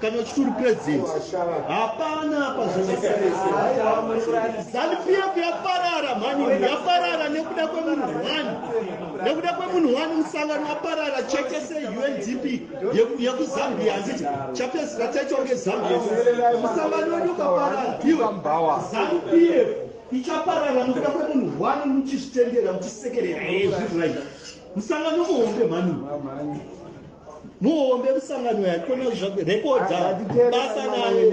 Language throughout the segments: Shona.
kana uchiti uri president hapana apa zvanesanipf yaparara mhani yaparara nekuda kwemunhu one nekuda kwemunhu one musangano waparara cheke seundp yekuzambia handiti chapedzira chachonge zambia musangano wedu ukaparara iwe zanupf ichaparara nekuda kwemunhu one muchizvitendera muchisekerera ezvirai musangano muhombe mhani muhombe musangano yaikona zvake rekodha basa naye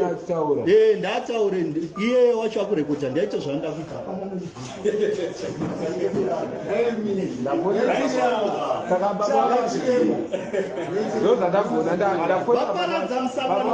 eh ndataure iye wacho akurekodha ndaita zvanda kuita ndozvandagona ndaparadza musangano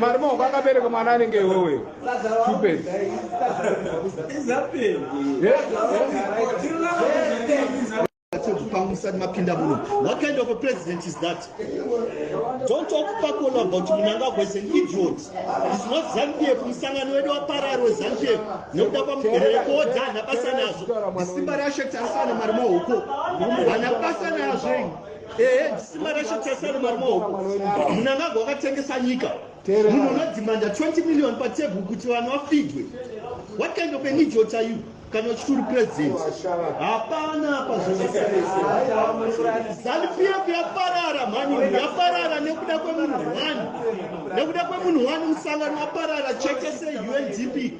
Mari maoko akabereka mwana anenge iwewe. Stupid. mapinda muno what kind of a president is that don't talk pakolo about munangagwa is an idiot is not zanupf musangano wedu waparari wezanupf nekuda kwamugerere koodza hana basa nazvo isimba reashe tarisana mari maoko hana basa nazvo ehe ndisima reshe tese ari mari maoko munangagwa wakatengesa nyika munhu unodhimanda 20 million patebhu kuti vanhu vafidwe what kind of an idiot are you kana uchiti uri president hapana apa zvanupiyeku yaparara mhani yaparara nekuda kwemunhu one nekuda kwemunhu one musangano waparara chekese undp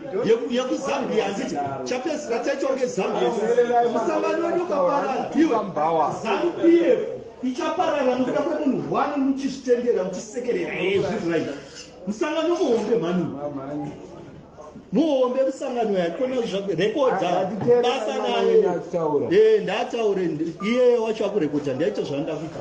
yekuzambia handiti chapedzisira chaichonge zambia musangano wedu ukaparara iwe zanupf ichaparara nokuda kwemunhu one muchizvitendera muchisekerera ezvirai musangano muhombe mhani muhombe musangano yakona rekodha basa naye ndataure iyeyo wacho akurekodha ndaita zvandakuita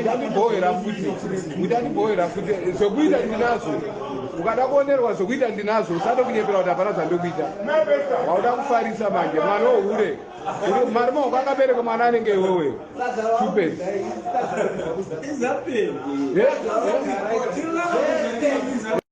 ndandibhohera futi ndandibhohera futi zvekuita ndinazvo ukada kuonerwa zvekuita ndinazvo usada kunyepera kuti hapana zvandikuita wauda kufarisa manje mwana wohure mari maoko akabereka mwana anenge iwewe stupid